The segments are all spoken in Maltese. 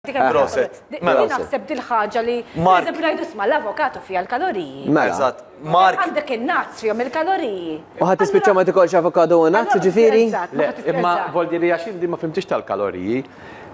Proset. Mela, naħseb dil-ħaġa li. Mark. Najdu sma l-avokatu fija l-kaloriji. Mela. Eżat. Mark. Għandek il-nazz fijom il-kaloriji. Uħat tispiċċa ma tikolx avokado u nazz, ġifiri? Imma voldi li għaxin di ma fimtix tal-kaloriji.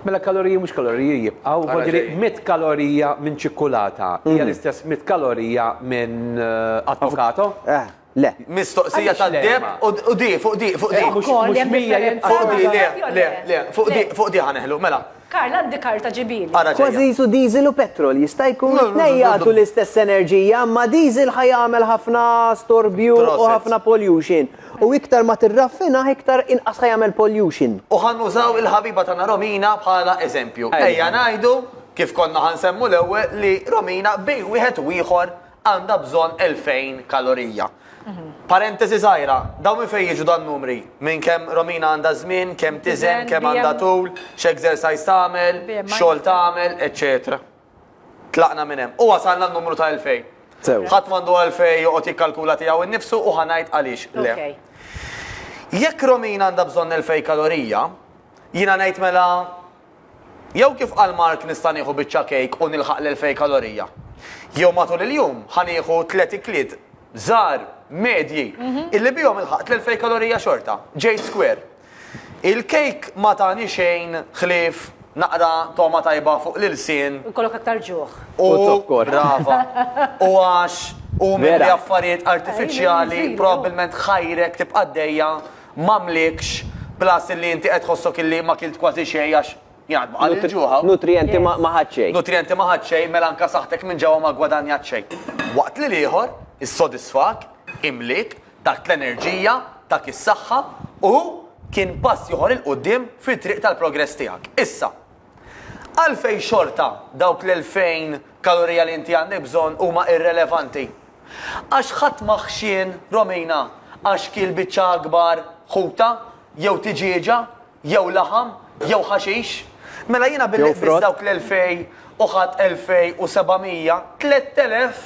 Mela kaloriji mux kaloriji jibqaw, voldi li 100 kalorija minn ċikkulata. Hija l-istess 100 kalorija minn eh, avokado. Eh. Le. Mistoqsija ta' deb u di, fuq di, fuq di. Fuq di, le, le, fuq di, fuq di ħaneħlu, mela. Karl, għandi karta ġibili. Kważi jisu diesel u petrol, jista' jkun tnejn jagħtu l-istess enerġija, imma diesel ħa jagħmel ħafna storbju u ħafna pollution. U iktar ma tirraffina, iktar inqas ħa jagħmel pollution. U ħa nużaw il-ħabiba tagħna Romina bħala eżempju. Ejja ngħidu, kif konna ħa nsemmu l-ewwel, li Romina bejn wieħed u ieħor għandha bżonn 2,000 kalorija. Parentesi żgħira, dawn minn fejn jiġu dan-numri? Minn kemm Romina għandha żmien, kemm tiżen, kemm għandha tul, x'exercise tagħmel, x'xogħol tagħmel, eċċetera. Tlaqna minn hemm u wasalna n-numru ta' 2,000. Sew. Ħadd m'għandu għalfejn joqgħod jikkalkula tiegħu innifsu u ħa ngħid għaliex le. Jekk Romina għandha bżonn 2,000 kalorija, jiena ngħid mela Jew kif qal Mark nista' nieħu biċċa kejk u nilħaq l-elfej kalorija. Jew matul il-jum ħa nieħu tliet ikliet żgħar, medji, illi bihom ilħaqt l-elfej kalorija xorta. Ġejt square. Il-kejk ma tani xejn ħlief naqra togħma tajba fuq l-ilsien. U jkollok aktar ġuħ. U zokkor. Brava. U għax hu mimli affarijiet artifiċjali, probabbilment ħajrek tibqa' għaddejja m'għamlikx plus illi inti qed tħossok illi ma kilt kważi xejn għax jgħad ma qalli l-ġuħ hawn. Nutrijenti ma ħadt xejn. Nutrijenti ma ħadt xejn mela anke saħħtek minn ġewwa ma ggwadanjat xejn. Waqt li l-ieħor issodisfak, imliek, tak l-enerġija, tak is-saħħa u kien pass ieħor 'il quddiem fit-triq tal-progress tiegħek. Issa, Għalfejn xorta dawk l-elfejn kalorija li inti għandek bżonn huma irrelevanti? Għax ħadd ma ħxien Romina għax kiel biċċa akbar ħuta, jew tiġieġa, jew laħam, jew ħaxix. Mela jiena billi qbist dawk l-elfejn u ħadt elfejn u seba' mija, tlett elef!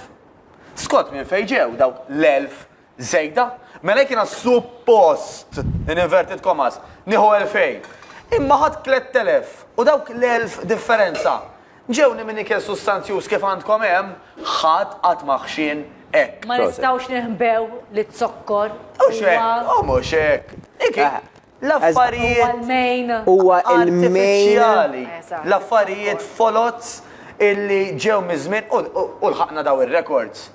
Skont minn fejn ġew dawk l-elf żejda, mela jekk jiena suppost, in inverted commas, nieħu elfejn, imma ħadt tlett telef u dawk l-elf differenza ġewni minn ikel sustanzjuż kif għandkom hemm, ħadd qatt ma ħxien hekk. Ma nistgħux ninħbew li z-zokkor huwa. U mhux hekk, u mhux hekk. L-affarijiet huwa artifiċjali, l-affarijiet foloz illi ġew miż-żmien u lħaqna dawn ir-rekords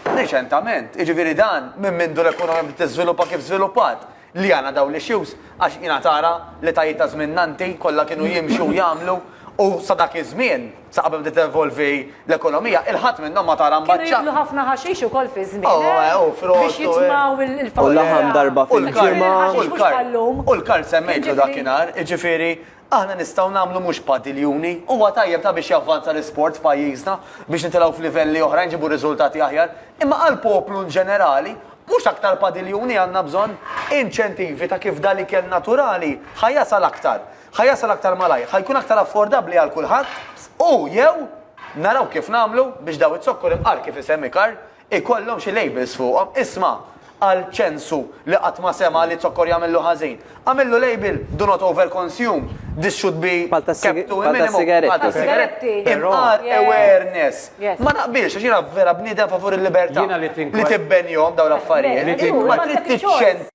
riċentament. Jiġifieri dan minn mindu l-ekonomija bdiet tiżviluppa kif żviluppat li għandna dawn l-issues għax jiena tara l-etajiet ta' żmienna inti kollha kienu jimxu jagħmlu u sa dak iż-żmien Sa qabel bdiet tevolvi l-ekonomija, il-ħadd minnhom ma tara mbaċċa. Kienu jieklu ħafna ħaxix ukoll fi żmienhom. Oh, eh, u frott. Biex jitmgħu il-faqar. U laħam darba fil-ġimgħa. U l-kard. U l-kard semmejtlu dakinhar, jiġifieri aħna nistgħu nagħmlu mhux padiljuni, huwa tajjeb ta' biex javvanza l-isport f'pajjiżna, biex nitilgħu f'livelli oħrajn nġibu riżultati aħjar, imma għall-poplu inġenerali mhux aktar padiljuni għandna bżonn inċentivi ta' kif dal-ikel naturali ħa jasal aktar. Ħa jasal aktar malajr, ħa jkun aktar affordabbli għal kulħadd u, jew, naraw kif nagħmlu biex daw iz-zokkor imqar kif isemmi Karl ikollhom xi labels fuqhom. Isma' għal ċensu li qatt ma sema' li zokkor jagħmillu ħażin. Agħmillu label, do not overconsume, this should be kept to a minimum, bħal tas-sigaretti, imqar awareness. Ma naqbilx, għax jiena vera bniedem favur il-libertà li tibbenihom dawn l-affarijiet. Imma trid tiċċentra.